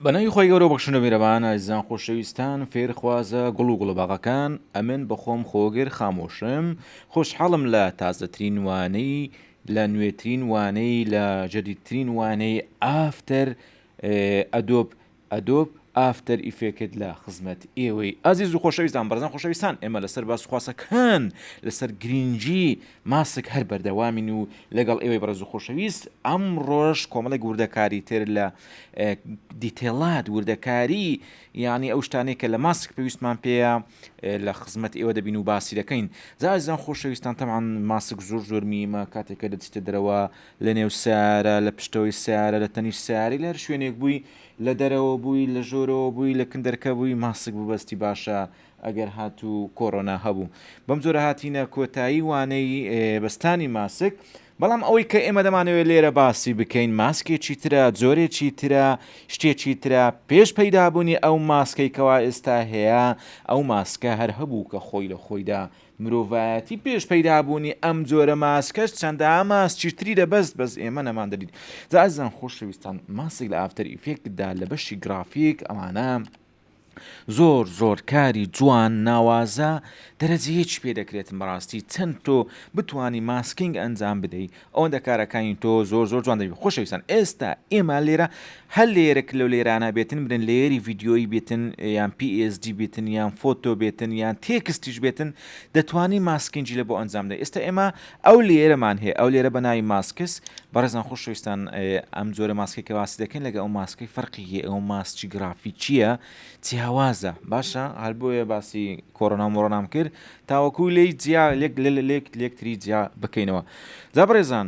بە ناوی خۆی گەورە بەخشنە میرەبان ئازیزان خۆشەویستان فێرخوازە گوڵ و گوڵەباغەکان ئەمن بەخۆم خۆگر خامۆشم خۆشحاڵم لە تازەترین وانەی لە نوێترین وانەی لە جەدیدترین وانەی ئافتەر ئەدۆب ئەدۆب ئافتەر ئیفێکت لە خزمەت ئێوەی ئازیز و خۆشەویستان بەرزان خۆشەویستان ئێمە لەسەر باسخواسەکان لەسەر گرنگجی ماسک هەر بەردەوامین و لەگەڵ ئێوەی بەڕێز و خۆشەویست ئەمڕۆش کۆمەڵێک وردەکاری تر لە دیتێڵات وردەکاری یانی ئەو شتانەی کە لە ماسک پێویستمان پێەیە لە خزمەت ئێوە دەبین و باسی دەکەین زازان خۆشەویستان تەمان ماسک زۆر زۆر میمە کاتێکە دەچیتە دەرەوە لە نێو سارە لە پشتەوەی سارە لە تەنیش ساری لەر شوێنێک بووی لە دەرەوە بووی لە ژۆرەوە بووی لە کندەرکە بووی ماسک ببەستی باشە ئەگەر هاتوو کۆرۆنا هەبوو بەم جۆرە هاتینە کۆتایی وانەی بەستانی ماسک بەڵام ئەوەی کە ئێمە دەمانەوێت لێرە باسی بکەین ماسکێکی ترە جۆرێکی ترە شتێکی ترە پێش پەیدابوونی ئەو ماسکەی کەوا ئێستا هەیە ئەو ماسکە هەر هەبوو کە خۆی لە خۆیدا مرۆڤایەتی پێش پەیدابوونی ئەم جۆرە ماسکەش چەندە ئاماس چیتری دەبەست بەس ئێمە نەمان دەدیت جازان خۆشەویستان ماسک لە ئافتەر ئیفێکتدا لە بەشی گرافیک ئەمانە زۆر زۆر کاری جوان ناوازە دەرەجە یەکی پێ دەکرێتم بەڕاستی چەند تۆ بتانی ماسکینگ ئەنجام بدەی ئەوەندە کارەکانی تۆ زۆر زۆر جوان دەبی خۆشەویستان ئێستا ئێمە لێرە هەر لێرەک لەو لێرانە بێتن برن لێری ڤیددیۆی بێتن یان PSD بێتن یان فۆتۆ بێتن یان تێکستیش بێتن دەتوانی ماسکینجی لە بۆ ئەنجام دە ئێستا ئێمە ئەو لێرەمان هەیە ئەو لێرە بەناوی ماسکس بەڕێزان خۆشەویستان ئەم جۆرە ماسکی کە باسی دەکەین لەگە ئەو ماسکی فەرقی هەیە ئەو ماسکی گرافیکیە چیاوازە باشە هەر بۆیە باسی کۆرۆنا مۆڕۆنام کرد تاوەکو لی جیا لێک لێک لێکتری جیا بکەینەوە جا بەڕێزان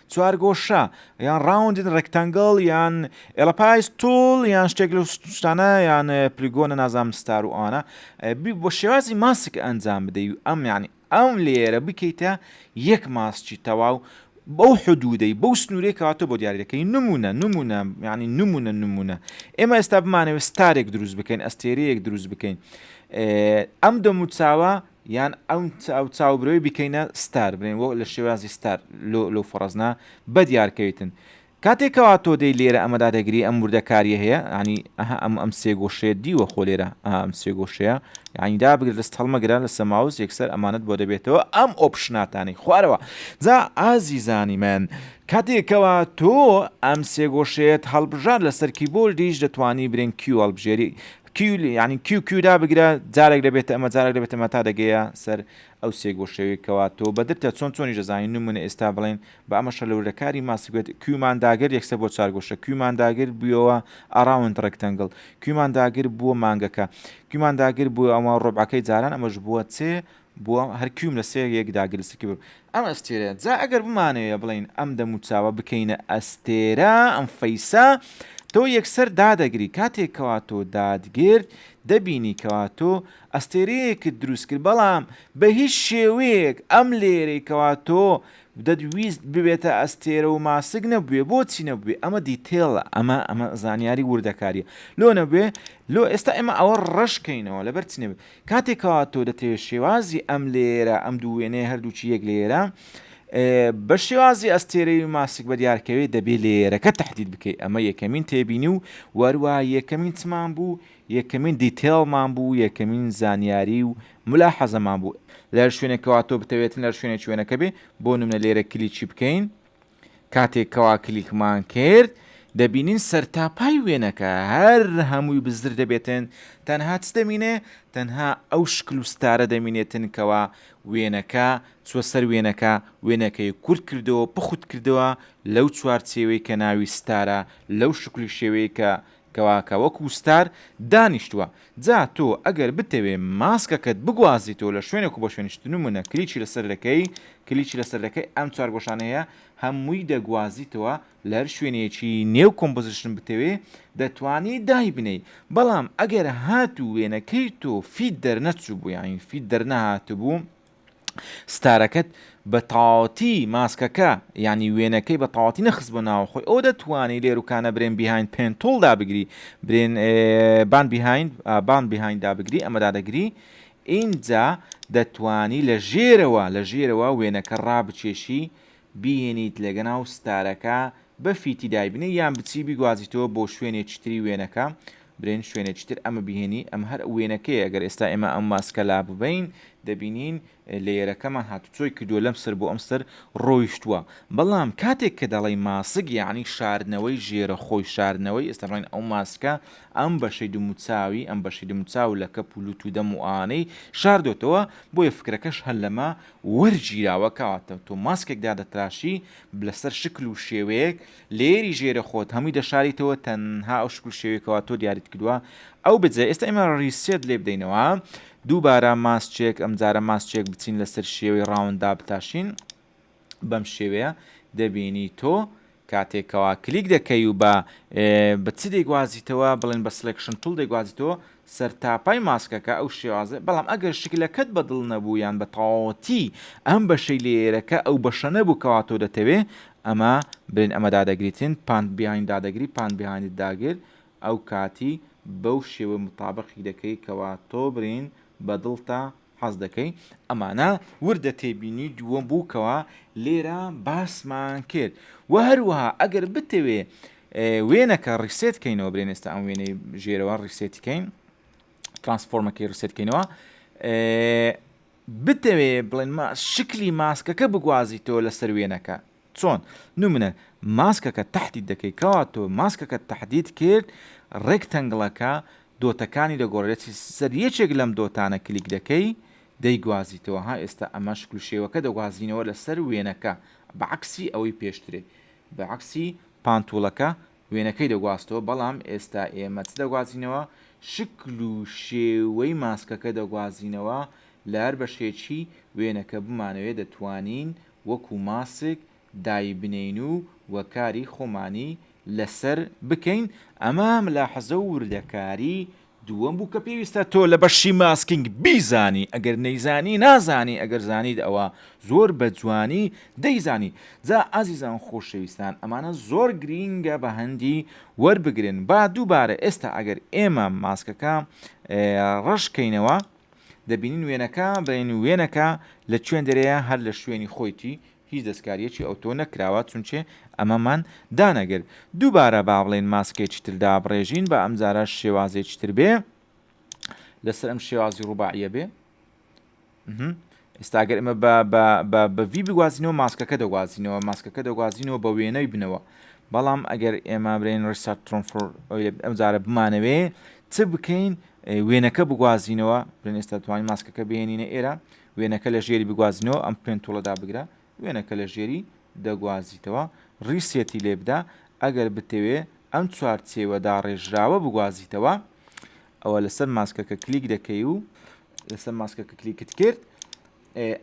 چوارگۆشە یان ڕاوندن ڕێکتەنگڵ یان ئێڵەپایس تۆڵ یان شتێک لە شتانە یان پلیگۆنە نازام ستار و ئانا بۆ شێوازی ماسک ئەنجام بدەی و ئەم یعنی ئەم لێرە بکەیتە یەک ماسکی تەواو بەو حدودەی بەو سنوورێک کاتۆ بۆ دیارەکەی نمونە نمونە ینی نمونە نمونە ئێمە ئێستا بمانەوە ستارێک دروست بکەین ئەستێرەیەک دروست بکەین ئەم دەموچاوە یان ئەو چاوبرۆی بیکەینە ستار بلێن وەک لە شێوازی ستار لۆ لەو فەڕزنە بەدیار کەویتن کاتێ کەوا تۆ دەی لێرە ئەمە دادەگری ئەم وردەکاریە هەیە عنی ئەها ئەم ئەم سێ گۆشەیە دیوە خۆ لێرە ئەم سێ گۆشەیە یعنی دابگرە دەست هەڵمەگرە لەسە ماوس یەکسەر ئەمانەت بۆ دەبێتەوە ئەم ئۆپشناتانی خوارەوە جا ئازیزانی من کاتێکەوە تۆ ئەم سێگۆشێت هەڵبژار لەسەر کیبۆردیش دەتوانی برێن کیو هەڵبژێری کیو یانی کیو کیو دابگرە جارێک دەبێتە ئەمە جارێک دەبێتە ئەمە تا دەگەیە سەر ئەو سێ گۆشەوی کەوا تۆ بەدرتە چۆن چۆنی دەزانین نمونە ئێستا بڵێن بە ئەمە شەلەورە کاری ماسکوێت کیومان داگر یەکسە بۆ چار گۆشە کیومان داگر بووەوە ئاراوند ڕێکتەنگڵ کیومان داگر بووە مانگەکە کیومان داگر بووە ئەمە ڕۆبعەکەی جاران ئەمەش بووە چێ بووە هەر کویم لە سێ یەک دا گل سکی بوو ئەم ئەستێرەیە جا ئەگەر بمانەوێ بڵێین ئەم دەموو چاوە بکەینە ئەستێرە ئەم فەیسە تۆ یەکسەر دادەگری کاتێک کەوا تۆ دادگرت دەبینی کەوا تۆ ئەستێرەیەکت دروست کرد بەڵام بە هیچ شێوەیەک ئەم لێرەی کەوا تۆ دەدویست ببێتە ئەستێرە و ماسک نەبوێ بۆچی نەبوێ ئەمە دیتێڵە ئەمە ئەمە زانیاری وردەکاریە لۆ نەبێ لۆ ئێستا ئێمە ئەوە ڕەشکەینەوە لەبەر چ نەبێت کاتێ کەوا تۆ دەتەوێت شێوازی ئەم لێیەرە ئەم دوو وێنەیە هەردووکی یەک لێیەرە بە شێوازی ئەستێرەی و ماسک بە دیارکەوێت دەبێت لێیەرەکە تهدید بکەیت ئەمە یەکەمین تێبینی و وەروە یەکەمین چمان بوو یەکەمین دیتێڵمان بوو یەکەمین زانیاری و ملا حەزەمان بوو لە شوێنێکەوە تۆ بتەوێتن لە شوێنێک شوێنەکە بێ بۆ نمونە لێرە کلیکی بکەین کاتێک کەوا کلیکمان کرد دەبینین سەرتاپای وێنەکە هەر هەمووی بزر دەبێتن تەنها چ دەمینێ تەنها ئەو شکل و ستارە دەمینێتن کەوا وێنەکە چوە سەر وێنەکە وێنەکەی کورت کردەوە پخوت کردەوە لەو چوارچێوەی کە ناوی ستارە لەو شکلی شێوەیە کە کەواکە وەکو ستار دانیشتوە جا تۆ ئەگەر بتەوێ ماسکەکەت بگوازیتەوە لە شوێنێکو بە شوێنیش تنومونە کلیچی لەسەر دەکەی کلیچی لەسەر دەکەی ئەم چوار گۆشانەی هەیە هەمووی دەگوازیتەوە لەهەر شوێنێکی نێو کۆمپۆزیشن بتەوێ دەتوانی دایبنێی بەڵام ئەگەر هاتوو وێنەکەی تۆ فیت دەرنەچوبوو یانی فیت دەرنەهاتبوو ستارەکەت بە تەواوەتی ماسکەکە یانی وێنەکەی بە تەواتی نەخست بۆ ناوە خۆی ئەو دەتوانانی لێروکانە برێن بیهاین پێنتۆڵ دابگری برێن بان بیهاین بان بیهاین دابگری ئەمە دادەگری ئینجا دەتانی لە ژێرەوە لە ژێرەوە وێنەکە ڕابچێشی بیهێنیت لەگەناو ستارەکە بەفیتی دایبنێ یان بچی بیگوازیتەوە بۆ شوێنێکی تری وێنەکە برێن شوێنێکی تر ئەمە بیهێنی ئەمە هەر وێنەکەیە گەر ئێستا ئێمە ئەم ماسکە لاببەین دەبینین لەیەرەکەمان هاتو چۆی کردوە لەم سەر بۆ ئەم سەر ڕۆیشتوە بەڵام کاتێک کە دەڵێی ماسک یانی شاردنەوەی ژێرە خۆی شاردنەوەی ئێستا بڵێن ئەو ماسکە ئەم بەشەی دموچاوی ئەم بەشەی دموچاو لە کەپ و لوت و دەم و ئانەی شاردۆتەوە بۆیە فکرەکەش هەر لەمە وەرگیراوە کەواتە تۆ ماسکێک دادەتراشی لەسەر شکل و شێوەیەک لێری ژێرە خۆت هەمووی دەشاریتەوە تەنها ئەو شکل شێوەی کەوا تۆ دیاریت کردووە ئەو بجە ئێستا ئێمە ڕیسێت لێ بدەینەوە دووبارە ماسچێک ئەمجارە ماسچێک بچین لەسەر شێوەی ڕاوندا بتاشین بەم شێوەیە دەبینی تۆ کاتێک کەوا کلیک دەکەی و بە بە چ دەیگوازیتەوە بڵێن بە سلێکشن توڵ دەیگوازیتەوە سەر تاپای ماسکەکە ئەو شێوازە بەڵام ئەگەر شکلەکەت بە دڵ نەبوو یان بە تەواوەتی ئەم بەشەی لێیەرەکە ئەو بەشە نەبوو کەوا تۆ دەتەوێ ئەمە بڵێن ئەمە دادەگریتن پانت بیهایند دادەگری پانت بیهایندت داگر ئەو کاتی بەو شێوە متابقی دەکەی کەوا تۆ بڵێن بە دڵتە حەزدەکەی ئەمانە وردە تێبینی دووەم بوو کەوا لێرە باسمان کرد و هەروەها ئەگەر بتەوێ وێنەکە ڕیسێت کەینەوە برێن ئێستا ئەم وێنەی ژێرەوە ڕیسێتی کەین ترانسفۆرمەکەی ڕیسێت کەینەوە بتەوێ بڵێن شکلی ماسکەکە بگوازیتەوە لەسەر وێنەکە چۆن؟ نمونە ماسکەکە تەحدید دەکەی کەوا تۆ ماسکەکەت تەحدید کرد ڕێکتەنگڵەکە دۆتەکانی دەگۆڕێت سەر یەکێک لەم دۆتانە کلیک دەکەی دەیگوازیتەوە ها ئێستا ئەمە شکل و شێوەکە دەگوازینەوە لەسەر وێنەکە بە عەکسی ئەوەی پێشترێ بە عەکسی پانتوڵەکە وێنەکەی دەگوازتەوە بەڵام ئێستا ئێمە چ دەگوازینەوە شکل و شێوەی ماسکەکە دەگوازینەوە لە هەر بەشێکی وێنەکە بمانەوێ دەتوانین وەکو ماسک دایبنێین و وەکاری خۆمانی لەسەر بکەین، ئەمە ملاحەزە و وردەکاری دووەم بوو کە پێویستە تۆ لە بەشی ماسکینگ بیزانی ئەگەر نەیزانی نازانی ئەگەر زانیت ئەوا زۆر بە جوانی دەیزانی جا ئازیزان خۆشەویستان ئەمانە زۆر گرینگە بە هەندی وەربگرن با دووبارە ئێستا ئەگەر ئێمە ماسکەکە ڕەش کەینەوە دەبینین وێنەکە دەڵێن وێنەکە لە چوێندەرەیە هەر لە شوێنی خۆیتی هیچ دەستکاریەکی ئەوتۆ نەکراوە چونچێ ئەمەمان دانەگر دووبارە با بڵێن ماسکێکی تر دابڕێژین بە ئەمجارە شێوازێکی تر بێ لەسەر ئەم شێوازی ڕوباعیە بێ ئێستا ئەگەر ئمە بەڤی بگوازینەوە ماسکەکە دەگوازینەوە ماسکەکە دەگوازینەوە بە وێنەوی بنەوە بەڵام ئەگەر ئێمە برێن ڕسات ترۆنفۆر ئەمجارە بمانەوێ چ بکەین وێنەکە بگوازینەوە برێن ئێستا توانین ماسکەکە بێنینە ئێرە وێنەکە لە ژێری بگوازینەوە ئەم پێنتوڵەدا بگرە وێنەکە لە ژێری دەگوازیتەوە ڕیسێتی لێبدا ئەگەر بتەوێ ئەم چوارچێوە داڕێژراوە بگوازیتەوە ئەوە لەسەر ماسکەکە کلیک دەکەی و لەسەر ماسکەکە کلیکت کرد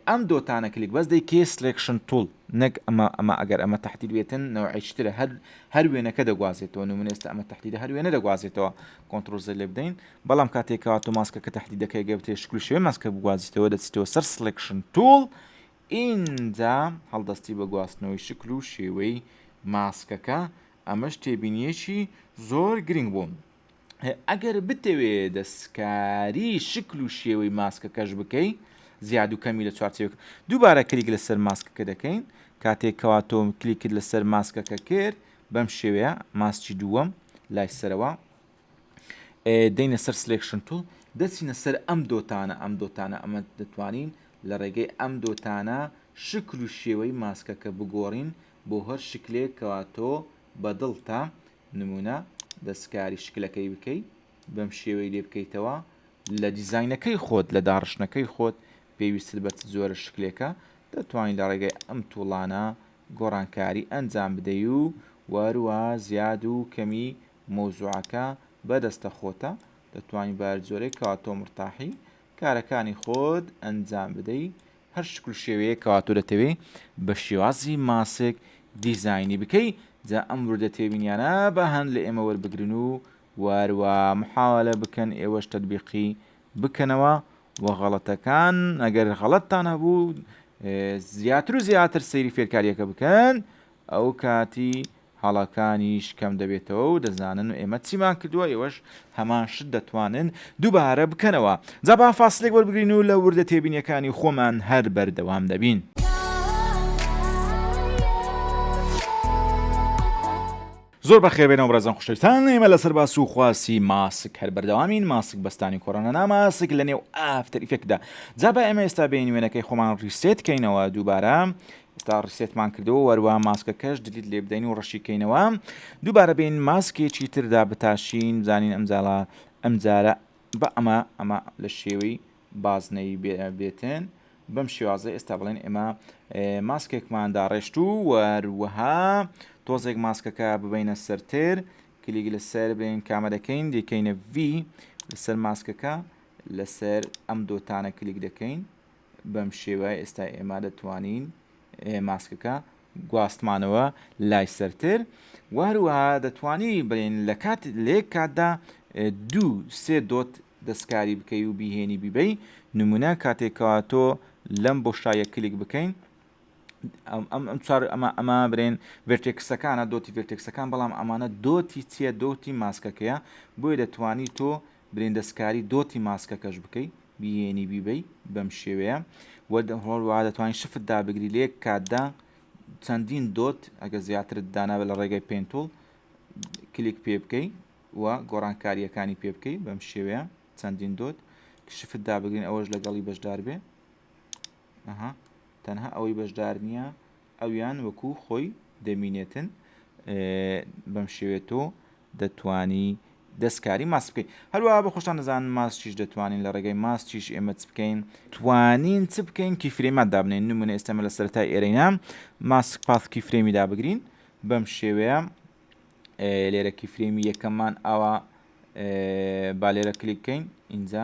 ئەم دۆتانە کلیک بەس دەی کێ سلێکشن تول نەک ئەمە ئەمە ئەگەر ئەمە تحتیل بێتن نەوەیشترە هەر هەر وێنەکە دەگوازێتەوە و منێستا ئەمە تحتیدا هەر وێنە دەگوازێتەوە کۆنتترۆزە لێ بدەین بەڵام کاتێکەوە تۆ ماسکەکە تحتی دەکەی گەبتێ شکل شوێ ماسکە بگوازیتەوە دەچیتەوە سەر سلێکشن تول ئینجا هەڵدەستی بە گواستنەوەی شکل و شێوەی ماسکەکە ئەمەش تێبینیەکی زۆر گرنگ بوون. ئەگەر بتەوێ دەستکاری شکل و شێوەی ماسکەکەش بکەی زیاد و کەمی لە چوارچێک دووبارە کلیک لەسەر ماسکەکە دەکەین کاتێک کەوا تۆم کلیکرد لەسەر ماسکەکە کرد بەم شێوەیە ماسکی دووەم لای سەرەوە دەینە سەر سلێکشن تول دەچینە سەر ئەم دۆتانە ئەم دۆتانە ئەمە دەتوانین لە ڕێگەی ئەم دۆتانە شکل و شێوەی ماسکەکە بگۆڕین بۆ هەر شکلێک کەوا تۆ بەدڵتە نمونە دەستکاری شکلەکەی بکەی بەم شێوەی لێ بکەیتەوە لە دیزاینەکەی خۆت لە داڕشتنەکەی خۆت پێویستت بە چ جۆرە شکلێکە دەتوانین لە ڕێگەی ئەم توڵانە گۆڕانکاری ئەنجام بدەی و وەروە زیاد و کەمی مەوزوعەکە بەدەستە خۆتە دەتوانی بە هەر جۆرێک کەوا تۆ مرتاحی کارەکانی خۆت ئەنجام بدەی هەر شکل و شێوەیەک کەوا تۆ دەتەوێ بە شێوازی ماسک دیزاینی بکەی جا ئەم وردە تێبینیانە با هەند لە ئێمە وەربگرن و واروا محاوەلە بکەن ئێوەش تەتبیقی بکەنەوە و غەڵەتەکان ئەگەر غەڵەتتان هەبوو زیاتر و زیاتر سەیری فێرکارییەکە بکەن ئەو کاتی هەڵەکانیش کەم دەبێتەوە و دەزانن ئێمە چیمان کردووە ئێوەش هەمان شت دەتوانن دووبارە بکەنەوە جا با فاسلێک وەربگرین و لە وردە تێبینیەکانی خۆمان هەر بەردەوام دەبین. زۆر بەخێر بێنەوە بەڕێزان خوشەویستان ئێمە لەسەر باس و خواسی ماسک هەر بەردەوامین ماسک بەستانی کۆرۆنا ناماسک لە نێو ئافتەر ئیفێکتدا جا با ئێمە ئێستا بین وێنەکەی خۆمان ڕیسێت کەینەوە دووبارە ئێستا ڕیسێتمان کردەوە وەروا ماسکەکەش دلیت لێ بدەین و ڕەشی کەینەوە دووبارە بین ماسکێکی تردا بتاشین بزانین ئەم زاڵە ئەم جارە بە ئەمە ئەمە لە شێوەی بازنەی بێتن بەم شێوازە ئێستا بڵێن ئێمە ماسکێکمان داڕێشت و وەروەها تۆزێک ماسکەکە ببینە سەرتر کلیک لەسەر بێن کامەرەکەین دەکەینە V لەسەر ماسکەکە لەسەر ئەم دۆتانە کلیک دەکەین بەم شێوەیە ئێستا ئێمە دەتوانین ماسکەکە گواستمانەوە لای سەرتر وهروە دەتوانی بڵێن لە کات لێک کاتدا دوو سێ دۆت دەستکاری بکەی و بیهێنی بیبەی نمونە کاتێکەوە تۆ لەم بۆشایە کلیک بکەین ئەم چار ئەمە ئەمە برێن ڤێرتێکسەکانە دۆتی ڤێرتێکسەکان بەڵام ئەمانە دۆتی چیە دۆتی ماسکەکەیە بۆیە دەتوانی تۆ برین دەستکاری دۆتی ماسکەکەش بکەی بیێنی بیبەی بەم شێوەیە وە هۆڵ وا دەتوانین شفت دابگری لە یەک کاتدا چەندین دۆت ئەگە زیاترت دانابە لە ڕێگەی پێنتول کلیک پێ بکەی و گۆڕانکاریەکانی پێ بکەی بەم شێوەیە چەندین دۆت شفت دابگرین ئەوەش لەگەڵی بەشدار بێ تەنها ئەوەی بەشدار نییە ئەویان وەکو خۆی دەمینێتن بەم شێوێ تۆ دەتوانی دەستکاری ماست بکەین هەروە بە خۆشتان دەزانن ماستیش دەتوانین لە ڕێگەی ماستیش ئێمە چ بکەین توانین چ بکەین کی فرێمات دابنین نمونە ئێستەمە لە سەرای ئێرەینا ماسک پاثکی فرێمی دابگرین بەم شێوەیە لێرە کی فرێمی یەکەممان ئاوا بالێرە کلیک بکەین اینجا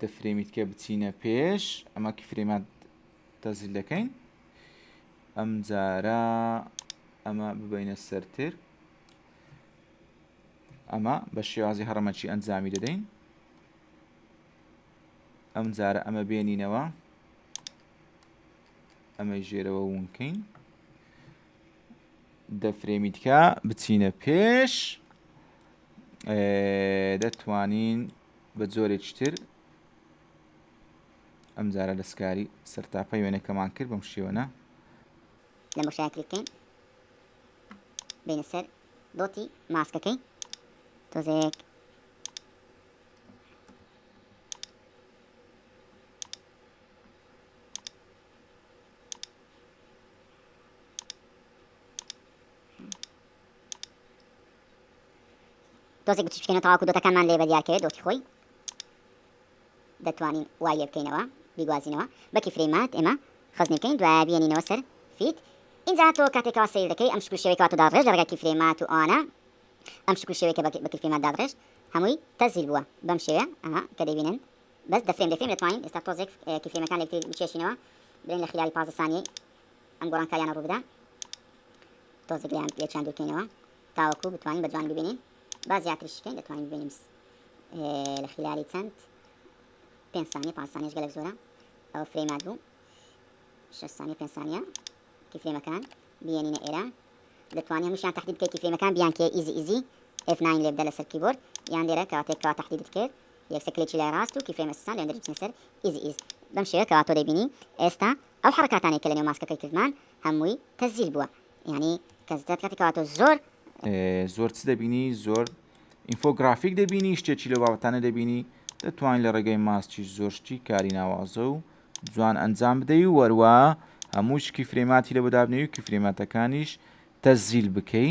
دەفرێمیت کە بچینە پێش ئەمە کی فرێمات تەزیل دەکەین ئەم جارە ئەمە ببینە سەرتر ئەمە بە شێوازی هەڕەمەکی ئەنجامی دەدەین ئەم جارە ئەمە بێنینەوە ئەمەی ژێرەوە وونکەین دەفرێمی تکا بچینە پێش دەتوانین بە جۆرێکی تر ئەم جارە دەستکاری سەرتاپەی وێنەکەمان کرد بەم شێوەە لە مشای کلیکەین بینە سەر دۆتی ماسکەکەی تۆزێک دۆزێک بچی بکەینە تاواکو دۆتەکانمان لێ بەدیاکەوێت دۆتی خۆی دەتوانین وای لێ بکەینەوە بیگوازینەوە بەکی فرەیمات ئێمە خزنی بکەین دوای بێنینەوە سەر فیت اینجا تۆ کاتێکەوە سیر دەکەی ئەم شکل شێوەی کاتو داڕێژ ڕێگەکی فرەیمات و ئەوانە ئەم شکل شێوەیەکە بەکرفیمات داڕێژ هەمووی تەزیل بووە بەم شێوە ئەها کە دەبینن بەس دە فرێم دە فرێم دەتوانین ئێستا تۆزێک کی فرێمەکان لە یەکتری بکێشینەوە برێن لە خیلالی پازدە سانیەی ئەم گۆڕانکاریانە ڕوو بدا تۆزێک لەیان لێکیان دوورکەینەوە تاوەکو بتوانین بە جوان ببینین با زیاتریش بکەین دەتوانین ببینین لە خیلالی چەند پێنج سانیە پاس سانیش گەلک زۆرە ئەوە فرێمات بوو شش سانیە پێنج سانیە کی فرێمەکان بینینە ئێرە دەتوانین هەمووشیان تهدی بکەیت کی فرێمەکان بیان کێ ئیزی ئیزی F9 لێبدە لەسەر کیبۆرد یان لێرە کاتێک کا تهدیدت کرد یەکسەر کلێکی لای ڕاست و کیفرەیم ئەسسان لە هێندری چنسر ئیزی ئیز بەم شێوەیە کەوا تۆ دەیبینی ئێستا ئەو حەڕەکاتانەی کە لە نێو ماسکەکەی کردمان هەمووی تەسجیل بووە یانی کە زدت کاتی کەوا تۆ زۆر زۆر چ دەبینی زۆر ئینفۆگرافیک دەبینی شتێکی لەو بابەتانە دەبینی دەتوانین لە ڕێگەی ماسکیش زۆر شتی کاری ناوازە و جوان ئەنجام بدەی و وەروە هەمووش کیفرەیماتی لە بۆ دابنێوی کیفرەیماتەکانیش تەزیل بکەی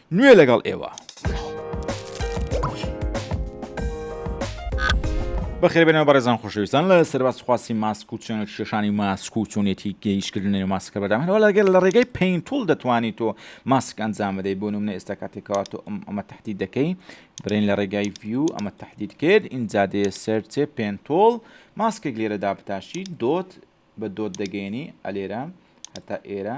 نوێ لەگەڵ ئێوە. بەخێر بێنەوە بەڕێزان خۆشەویستان لە سەرباز خواسی ماسک و چۆنە کێشانی ماسک و چۆنێتی گەیشکردن لە ماسکە بەدام هەوە لەگەر لە ڕێگەی پینتول دەتوانیت تۆ ماسک ئەنجام بدەیت بۆ نمونە ئێستا کاتێکەوە تۆ ئەمە تهدید دەکەی برێن لە ڕێگای ڤیو ئەمە تهدید کرد ئینجا دێ سەرچێ پێنتۆڵ ماسکێک لێرەدا بتاشی دۆت بە دۆت دەگەێنی ئەلێرە هەتا ئێرە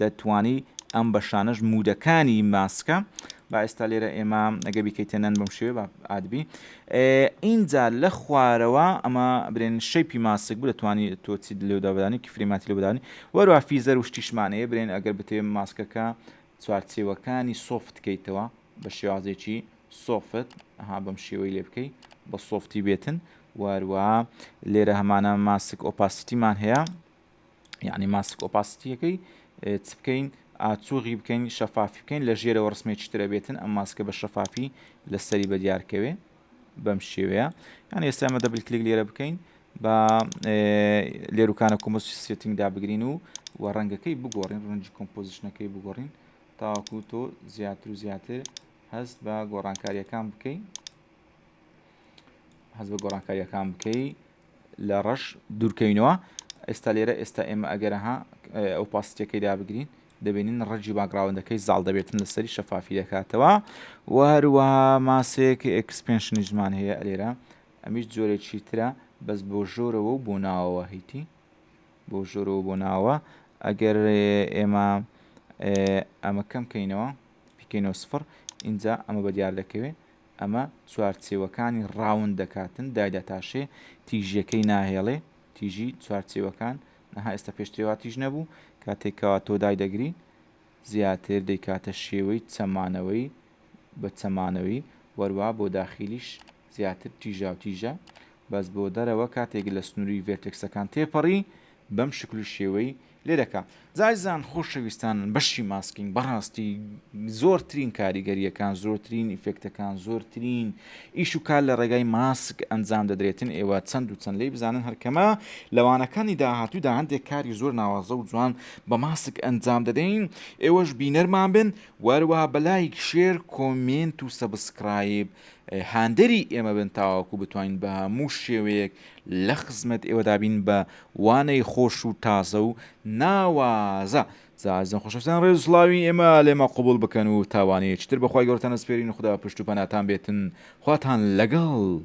دەتوانی ئەم بەشانەش مودەکانی ماسکە با ئێستا لێرە ئێمە ئەگە بیکەیتە نەن بم شێ ئادبی ئینجا لە خوارەوە ئەمە برێن شەیپی ماسک بوو دەتوانانی تۆچی لێودابدانی کفریماتی لەبدانی وەروە فیزەر و شتیشمانەیە برێن ئەگەر بتێ ماسکەکە چوارچێوەکانی سۆفت کەیتەوە بە شێوازێکی سۆفت ها بەم شێوەی لێ بکەیت بە سۆفتی بێتن واروە لێرە هەمانە ماسک ئۆپاسیتیمان هەیە یعنی ماسک ئۆپاسیتیەکەی چ بکەین ئاچوغی بکەین شەفافی بکەین لە ژێرەوە ڕسمێکی ترە بێتن ئەم ماسکە بە شەفافی لەسەری بە دیارکەوێ بەم شێوەیە یان ئێستامە دەبل کلیک لێرە بکەین بە لێروکانە کۆمەسی سێتنگدا بگرین و و ڕەنگەکەی بگۆڕین ڕەنجی کۆمپۆزیشنەکەی بگۆڕین تاکو تۆ زیاتر و زیاتر هەست بە گۆڕانکاریەکان بکەین هەز بە گۆڕانکاریەکان بکەی لە ڕەش دوورکەوینەوە ئێستا لێرە ئێستا ئێمە ئەگەرەها ئەو پاستەکەی دابگرین دەبینین ڕەجی باگراوندەکەی زاڵ دەبێتن لەسەری شەفافی دەکاتەوە و هەروە ماسێک ئەکسپنشنی زمان هەیە لێرە ئەمیش جۆرێکی ترە بەس بۆ ژۆرەوە و بۆ ناوەوە هیتی بۆ ژۆرەوە بۆ ناوە ئەگەر ئێمە ئەمە کەم کەینەوە بکەینەوە سفر اینجا ئەمە بە دیار دەکەوێت ئەمە چوارچێوەکانی ڕاوند دەکاتن دایدا تاشێ تیژیەکەی ناهێڵێ تیژی چوارچێوەکان نەها ئێستا پێشترێ وا تیژ نەبوو کاتێک کەوا تۆ دای دەگری زیاتر دەیکاتە شێوەی چەمانەوەی بە چەمانەوەی وەروا بۆ داخیلیش زیاتر تیژاوتیژە بەس بۆ دەرەوە کاتێک لە سنووری ڤێرتێکسەکان تێپەڕی بەم شکل و شێوەی لێ دەکا. زازیزان خۆشەویستانن بەشی ماسکینگ بەڕاستی زۆرترین کاریگەریەکان زۆرترین ئیفێکتەکان زۆرترین ئیش و کار لە ڕێگای ماسک ئەنجام دەدرێتن ئێوە چەند و چەند لی بزانن هەرکەمە لەوانەکانی داهاتوودا هەندێک کاری زۆر ناوازە و جوان بە ماسک ئەنجام دەدەین ئێوەش بینەرمان بن وەروە بەلایک شێر کۆمێنت و سەبسکرایب هاندەری ئێمە بن تاواکو بتوانین بە هەموو شێوەیەک لەخزمەت ئێوەدابین بە وانەی خۆش و تازە و ناوازە زازن خۆشەستان ڕێز سڵاوی ئێمە لێمە قوبول بکەن و تاوانەیە چتر بەخوای گەورتان ئەسپێرین خودا پشت و پەناتان بێتن خواتان لەگەڵ